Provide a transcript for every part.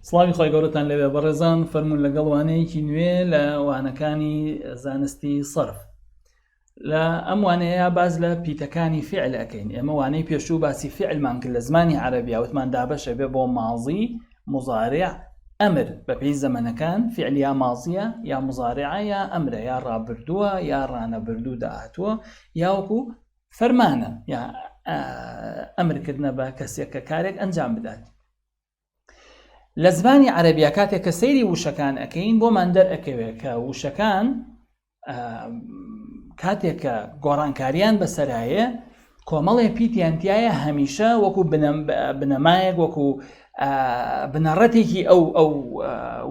سڵاوی خۆی گەورەتان لەوێ بەڕێزان فەرمونون لەگەڵ وانەیەکی نوێ لە وانەکانی زانستی سرف لە ئەم وانەیە باز لە پیتەکانی فعل ئەەکەین ئێمە وانەی پێشوو باسی فعلمان کرد لە زمانی عربی وتمان دابەشە بێ بۆ مازی مزارع ئەمر بەپی زەمەنەکان فعلیا مازیە یا مزارعە یا ئەمرە یا ڕابردووە یا ڕانەبردوو داهتووە یاوەکو فەرمانە یا ئەمرکردە بە کەسێک کە کارێک ئەنجام بدات لە زمانی عەربیا کاتێک کە سەیری وشەکان ئەەکەین بۆمان دەرئەکەوێت کە وشەکان کاتێک کە گۆڕانکاریان بەسەرایە کۆمەڵێ پیتیانتیایە هەمیشە وەکو بنەمایەک وەکو بنەڕەتێکی ئەو ئەو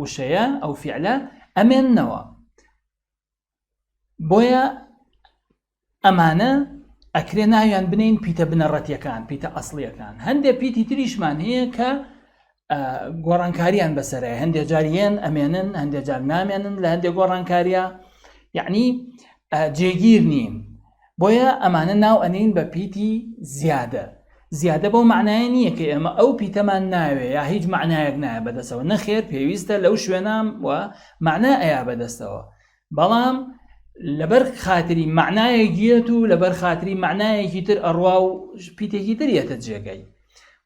وشەیە ئەو فعلە ئەمێنەوە بۆیە ئەمانە ئەکرێ ناویان بنین پیتە بنەڕەتیەکان پیتە ئەسلیەکان هەندێک پیتی تریشمان هەیە کە گۆڕانکاریان بەسەرە هەندێک جاریان ئەمێنن هەندێک جار نامێنن لە هەندێک گۆڕانکاریە یعنی جێگیر نین بۆیە ئەمانە ناو ئەنێین بە پیتی زیادە، زیادە بەو مەعنایە نییە کە ئێمە ئەو پیتەمان ناوێ یا هیچ مەعنایەک نایە بەدەستەوە، نەخێر پێویستە لەو شوێنە وە مەعنا ئەیا بەدەستەوە، بەڵام لەبەر خاتری مەعنایەک یەت و لەبەر خاتری مەعنایەکی تر ئەڕوا و پیتێکی تر یەتە جێگەی.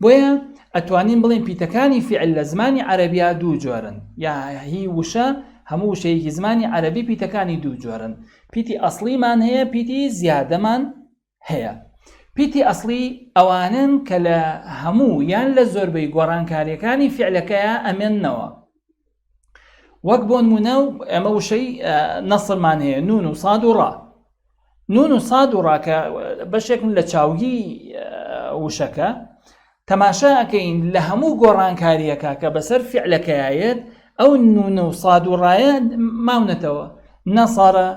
بۆیە ئەتوانین بڵێن پیتەکانی فعل لە زمانی عەرەبیا دوو جۆرن یا هی وشە هەموو وشەیەکی زمانی عەرەبی پیتەکانی دوو جۆرن پیتی ئەسلیمان هەیە پیتی زیادەمان هەیە پیتی ئەسلی ئەوانن کە لە هەموو یان لە زۆربەی گۆڕانکاریەکانی فعلەکەیە ئەمێننەوە وەک بۆنمونە و ئەمە وشەی نەسرمان هەیە نون و ساد و ڕا نون و ساد و ڕاکە بەشێکم لە چاوگی وشەکە تەماشاکەین لە هەموو گۆڕانکاریەکە کە بەسەر فعلەکەیەت ئەو نونە و ساد و ڕایە ماونەتەوە نەسارە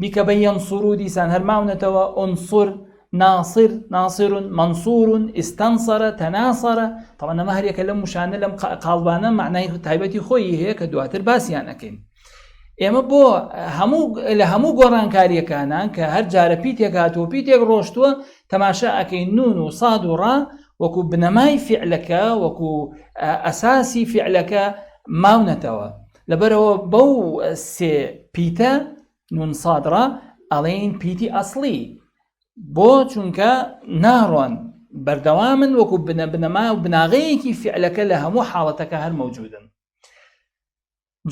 بیکە بە یەنسوور و دیسان هەر ماونەتەوە ئونسور ناصر ناصر منصور استنصر تناصر طبعا ئەمە هەرێکە لەم وشانە لەم قاڵبانە معنای تایبەتی خۆی هەیە کە دواتر باسییان ئەەکەین ئێمە بۆ هەموو لە هەموو گۆڕانکاریەکانان کە هەر جارە پیتێک هاتووە پیتێک ڕۆشتووە تەماشا ئەەکەی نون و ساد و ڕا وەکو بنەمای فعلەکە وەکو ئەساسی فعلەکە ماونەتەوە لەبەرئەوە بەو سێ پیتە، نون صادرە، ئەڵێین پیتی ئەسڵی، بۆ چونکە ناڕۆن، بەردەوامن وەکو بنە بنەما و بناغەیەکی فیعلەکە لە هەموو حاڵەتەکە هەر مەوجودن.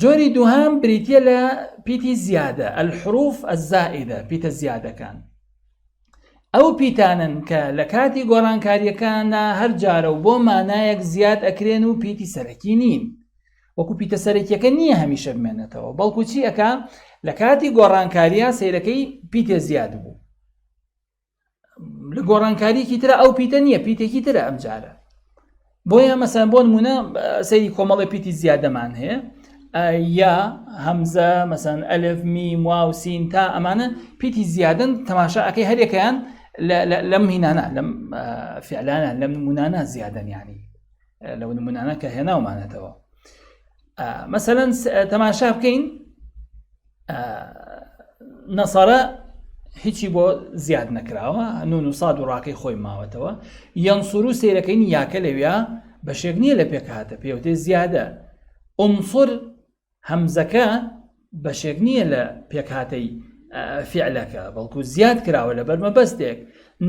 جۆری دووهەم بریتیە لە پیتی زیادە، الحروف الزائدە، پیتە زیادەکان. ئەو پیتانەن کە لە کاتی گۆڕانکاریەکاندا هەر جارە و بۆ مانایەک زیاد ئەکرێن و پیتی سەرەکی نین. وەکو پیتە سەرەکیەکە نییە هەمیشە بمێنێتەوە بەڵکو چی ئەکا لە کاتی گۆڕانکاریە سیرەکەی پیتێ زیاد بوو لە گۆڕانکاریکی ترە ئەو پیتە نییە پیتێکی ترە ئەم جارە بۆیە مەسەن بۆ نمونە سەیری کۆمەڵی پیتی زیادەمان هەیە یا هەمزە مەسەن ئەلف می واو سین تا ئەمانە پیتی زیادن تەماشا ئەەکەی هەرێکیان لەم هینانە لەم فعلانە لەم نمونانە زیادەنیانی لەو نمونانە کە هێناومانەتەوە مەسەەن تەماشا بکەین نەسارە هیچی بۆ زیاد نەکراوە نون و ساد و ڕاکەی خۆی ماوەتەوە یان سوور و سیرەکەین یاکە لەویا بەشێک نییە لە پێکهاتە پێوتێ زیادە ئۆمسۆر هەمزەکە بەشێک نییە لە پێکهاتەی فیعلەکە بەڵکو زیاد کراوە لە بەرمەبەستێک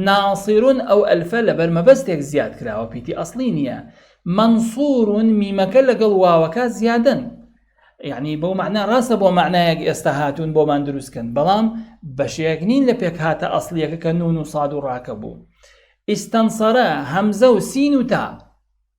ناسیرون ئەو ئەلفە لە بەرمەبەستێک زیاد کراوە پیتی ئەسلی نییە منصورون میمەکە لەگەڵ واوەکە زیادن یعنی بەو معنا ڕاستە بۆ معنایەک ئێستا هاتوون بۆمان دروستکەن بەڵام بەشێک نین لە پێک هاتە ئەسلیەکە کە نون و ساد و ڕاکە بوو ئیسستەنسەرە هەمزە و سین و تا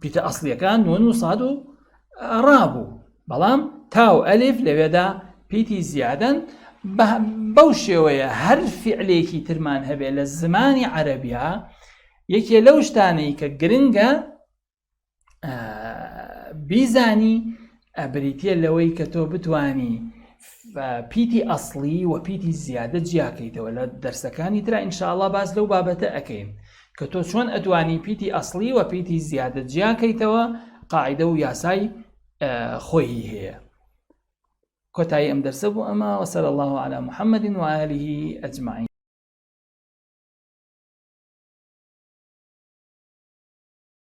پیتە ئەسلیەکان نۆن و ساد و ڕابوو بەڵام تاو ئەلیف لەوێدا پیتی زیادن بەو شێوەیە هەر فعلێکی ترمان هەبێت لە زمانی عەربیا یەکێ لەو شتانەی کە گرنگە بیزانی ئەبریتە لەوەی کە تۆ بتانی پیتی ئەسڵی و پیتی زیادە جیاکەیتەوە لە دەرسەکانی تررا ئینشاءله باس لەو بابەتە ئەەکەین کە تۆ چۆن ئەتوانی پیتی ئەسڵی و پیتی زیادە جیاکەیتەوە قاعدە و یاسای خۆی هەیە کۆتایی ئەم دەرسە بوو ئەمە وەسەر الله على محمد وعاله ئەجمعین